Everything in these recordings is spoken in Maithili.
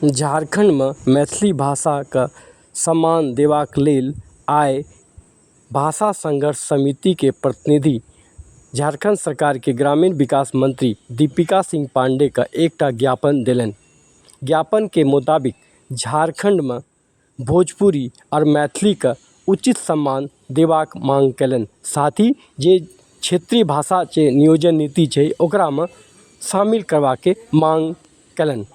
झारखण्डमे मैथिली भाषाके सम्मान देबाक लेल आइ भाषा संघर्ष समितिके प्रतिनिधि झारखण्ड सरकारके ग्रामीण विकास मंत्री दीपिका सिंह पाण्डेके एकटा ज्ञापन देलनि ज्ञापनके मोताबिक झारखण्डमे भोजपुरी आओर मैथिलीके उचित सम्मान देबाक माँग कयलनि साथ ही जे क्षेत्रीय भाषा छै नियोजन नीति छै ओकरामे शामिल करबाके माँग कयलनि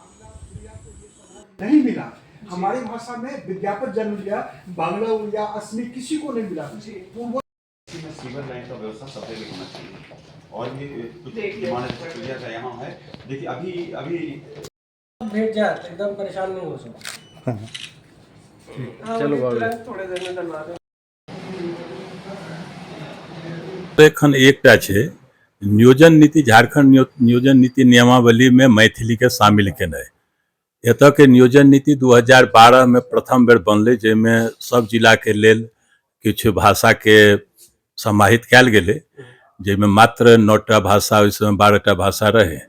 भेट जात एकदम परेशान नहीं हो सकता हाँ, चलो बाबा थोड़े देर में डलवा दो एखन एकटा छै नियोजन नीति झारखंड नियोजन नीति नियमावली में मैथिली के शामिल केनाइ एत के नियोजन नीति 2012 में प्रथम बेर बनल जैमें सब जिला के लेल किछु भाषाके समाहित कयल गेलै जाहिमे मात्र नओ टा भाषा ओहि समय बारह टा भाषा रहै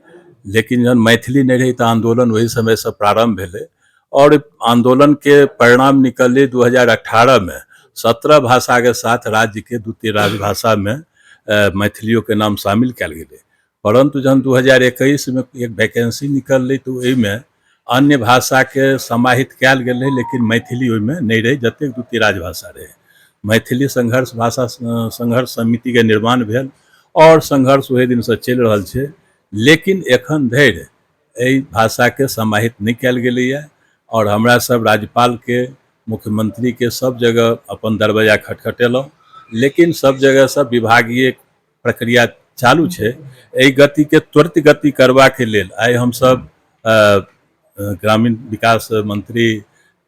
लेकिन जहन मैथिली नहि रहै तऽ आन्दोलन ओहि समयसँ प्रारम्भ भेलै आओर आन्दोलनके परिणाम निकललै दू हजार अठारहमे सत्रह भाषाके साथ राज्यके दू तीन राजभाषामे मैथिलियोके नाम शामिल कयल गेलै परन्तु जहन दू हजार एकैसमे एक वैकेन्सी निकललै तऽ ओहिमे अन्य भाषाके समाहित कयल गेल रहै लेकिन मैथिली ओहिमे नहि रहै जतेक दू तीन राजभाषा रहै मैथिली संघर्ष भाषा संघर्ष समितिके निर्माण भेल आओर संघर्ष ओहि दिनसँ चलि रहल छै लेकिन एखन धरि एहि भाषाके समाहित नहि कयल गेलैए आओर हमरा सब राज्यपालके मुख्यमंत्रीके सब जगह अपन दरवाजा खटखटेलहुँ लेकिन सब जगहसँ विभागीय प्रक्रिया चालू छै एहि गतिके त्वरित गति करबाके लेल आइ हमसभ ग्रामीण विकास मंत्री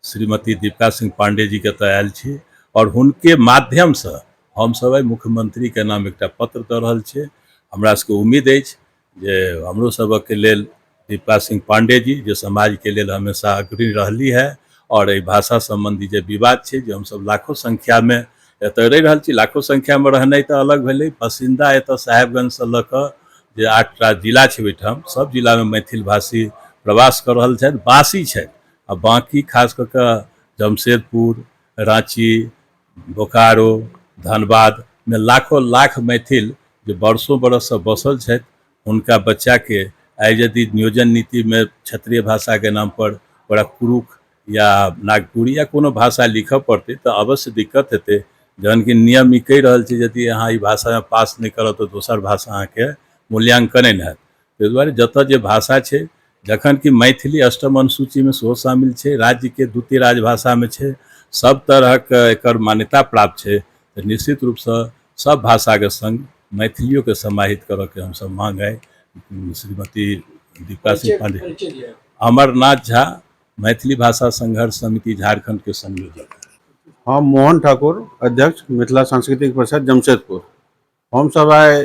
श्रीमती दीपिका सिंह पांडे जी के एतऽ आयल छी आओर हुनके माध्यमसँ हमसभ आइ मुख्यमंत्रीके नाम एकटा पत्र दऽ रहल छियै हमरा सभके उम्मीद अछि जे हमरो सबक लेल दीपा सिंह पाण्डे जी जे समाज के लेल हमेशा अग्रणी रहली है और एहि भाषा संबंधी जे विवाद छै जे हमसब लाखो संख्या में एतय रहि रहल छी लाखो संख्या में रहनाइ तऽ अलग भेलै बसिन्दा एतय साहेबगंज से लऽ कऽ जे आठ टा जिला छै ओहिठाम सब जिला में मैथिल भाषी प्रवास कऽ रहल छथि बासी छथि आ बाकी खास कऽ कऽ जमशेदपुर राँची बोकारो धनबाद मे लाखो लाख मैथिल जे वर्षो वर्ष सँ बसल छथि हुनका बच्चा के आइ यदि नियोजन नीति मे क्षेत्रीय भाषा के नाम पर ओकरा कुरुख या नागपुरी या कोनो भाषा लिखऽ पड़तै तऽ अवश्य दिक्कत हेतै जहन कि नियम ई कहि रहल छै यदि अहाँ ई भाषा मे पास नहि करब तऽ दोसर भाषा अहाँ के मूल्यांकने नहि होयत ताहि दुआरे जतऽ जे भाषा छै जखन कि मैथिली अष्टम अनुसूचीमे सेहो शामिल छै राज्यके द्वितीय राजभाषामे छै सब तरहक एकर मान्यता प्राप्त छै तऽ निश्चित रूपसँ सब भाषाके सङ्ग मैथिलियोके समाहित करऽके हमसब माँग आइ श्रीमती दीपा सिंह पाण्डे अमरनाथ झा मैथिली भाषा संघर्ष समिति झारखंडके संयोजक हम मोहन ठाकुर अध्यक्ष मिथिला सांस्कृतिक परिषद जमशेदपुर हमसभ आइ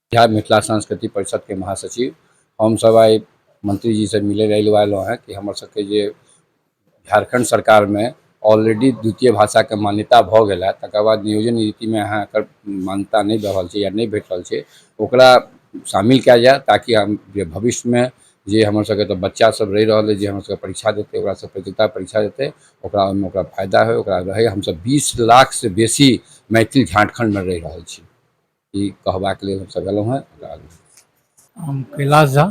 बिहार मिथिला सांस्कृति परिषद के महासचिव हम सब आइ मंत्री जी से मिले रही वालो हैं कि हमर सबके जे झारखंड सरकार में ऑलरेडी द्वितीय भाषा के मान्यता भऽ गेल है तकर बाद नियोजन नीति में अहाँ एकर मान्यता नहि दऽ रहल छै या नहि भेट रहल छै ओकरा शामिल कयल जाय ताकि हम जे भविष्य में जे हमर सबके तऽ बच्चा सब रहि रहल अइ जे हमर सबके परीक्षा देतै ओकरा सब प्रतियोगिता परीक्षा देतै ओकरा ओहिमे ओकरा फायदा होय ओकरा रहय हमसब बीस लाख से बेसी मैथिल झारखंड में रहि रहल छी ई कहबाक लेल हमसभ एलहुँ हेँ ओकरा आगू हम कैलाश झा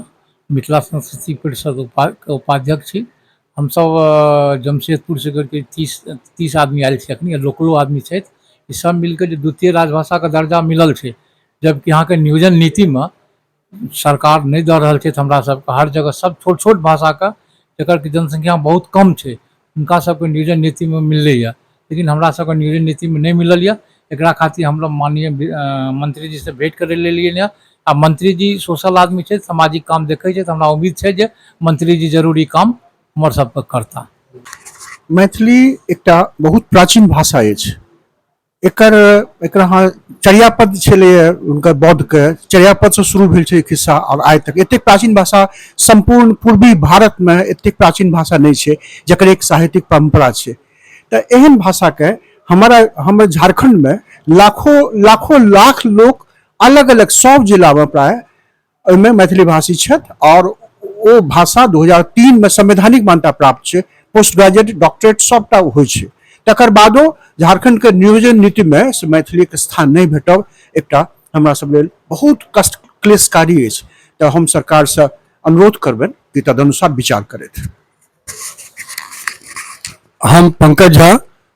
मिथिला संस्कृति परिषद उपा के उपाध्यक्ष छी हमसभ अ, जमशेदपुर से करके तीस तीस आदमी आयल छी अखनी लोकलो आदमी छथि ई सब मिलके जे द्वितीय राजभाषा के दर्जा मिलल छै जबकि अहाँके नियोजन नीति मे सरकार नहि दऽ रहल छथि हमरा सबके हर जगह सब छोट छोट भाषाके जकर कि जनसंख्या बहुत कम छै हुनका सबके नियोजन नीतिमे मिललैए लेकिन हमरा सबके नियोजन नीतिमे नहि मिलल यऽ एकरा खातिर हमलोग माननीय मंत्री जी से भेंट करै लेलियनि यऽ आ मंत्री जी सोशल आदमी छथि सामाजिक काम देखै छथि हमरा उम्मीद छै जे मंत्री जी जरूर ई काम हमर सबके करता मैथिली एकटा बहुत प्राचीन भाषा अछि एकर एकर अहाँ चर्यापद छलैए हुनकर बौद्धके चर्यापदसँ शुरू भेल छै खिस्सा आओर आइ तक एतेक प्राचीन भाषा सम्पूर्ण पूर्वी भारतमे एतेक प्राचीन भाषा नहि छै जकर एक साहित्यिक परम्परा छै तऽ एहन भाषाके हमारा हमर झारखंडमे लाखों लाखों लाख लोक अलग अलग सब जिलामे प्राय ओहिमे मैथिली भाषी छथि आओर ओ भाषा दू हजार तीनमे संवैधानिक मान्यता प्राप्त छै पोस्ट ग्रेजुएट डॉक्टरेट सभटा होइ छै तकर बादो झारखंडके नियोजन नीतिमे से मैथिलीके स्थान नहि भेटब एकटा हमरा सब लेल बहुत कष्ट क्लेशकारी अछि तऽ हम सरकारसँ अनुरोध करबनि कि तदनुसार विचार करथि हम पंकज झा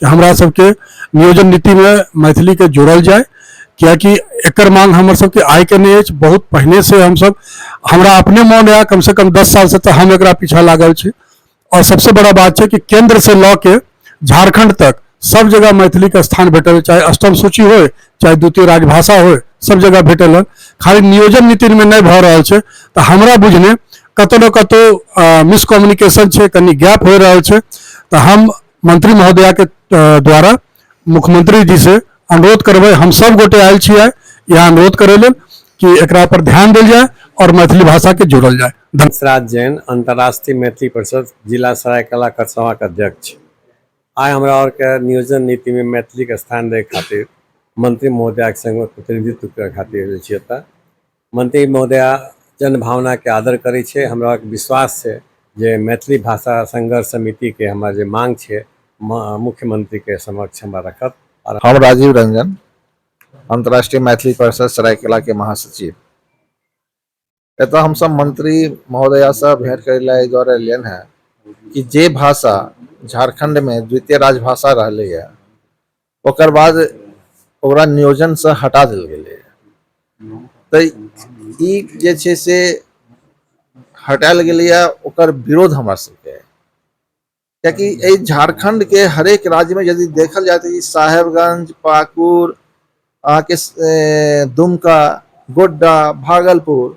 कि हमरा सबके नियोजन नीतिमे मैथिलीके जोड़ल जाय किएकि एकर मांग हमर सबके आइके नहि अछि बहुत पहिने से हमसब हमरा अपने मोन यऽ कमसँ कम दस सालसँ तऽ हम एकरा पीछा लागल छी आओर सबसँ बड़ा बात छै कि केंद्र से लऽ के झारखंड तक सब जगह मैथिली के स्थान भेटल चाहे अष्टम सूची हो चाहे द्वितीय राजभाषा हो सब जगह भेटल है खाली नियोजन नीति में नहीं भऽ रहल छै तऽ हमरा बुझने कतौ ने कतौ मिसकम्युनिकेशन छै कनि गैप हो रहल छै तऽ हम मंत्री महोदया के अ, द्वारा मुख्यमंत्री जी से अनुरोध करबै हम सब गोटे आयल छी आइ यहाँ अनुरोध करे लेल कि एकरा पर ध्यान देल जाय और मैथिली भाषा के जोड़ल जाय धन्यवाद हंसराज जैन अंतर्राष्ट्रीय मैथिली परिषद जिला सरायकला खरसवा के अध्यक्ष आइ हमरा और के नियोजन नीति में मैथिली के स्थान दै खातिर मंत्री महोदया के संग प्रतिनिधित्व के खातिर आयल छी एतऽ मंत्री महोदया जन भावना के आदर करै छै हमरा विश्वास छै जे मैथिली भाषा संघर्ष समिति के हमर जे मांग छै मुख्यमंत्री के समक्ष हमरा रखत हम राजीव रंजन अंतर्राष्ट्रीय मैथिली परिषद सरायकला के महासचिव एतऽ हम सब मंत्री महोदया से भेंट करे ला द्वारा एलियन है कि जे भाषा झारखंड में द्वितीय राजभाषा रहले है ओकर बाद ओकरा नियोजनसँ हटा देल गेलै तऽ ई जे छै से हटायल गेलैए ओकर विरोध हमरा सबके कियाकि एहि झारखंडके हरेक राज्यमे यदि देखल जाय तऽ ई साहेबगंज पाकुर अहाँके दुमका गोड्डा भागलपुर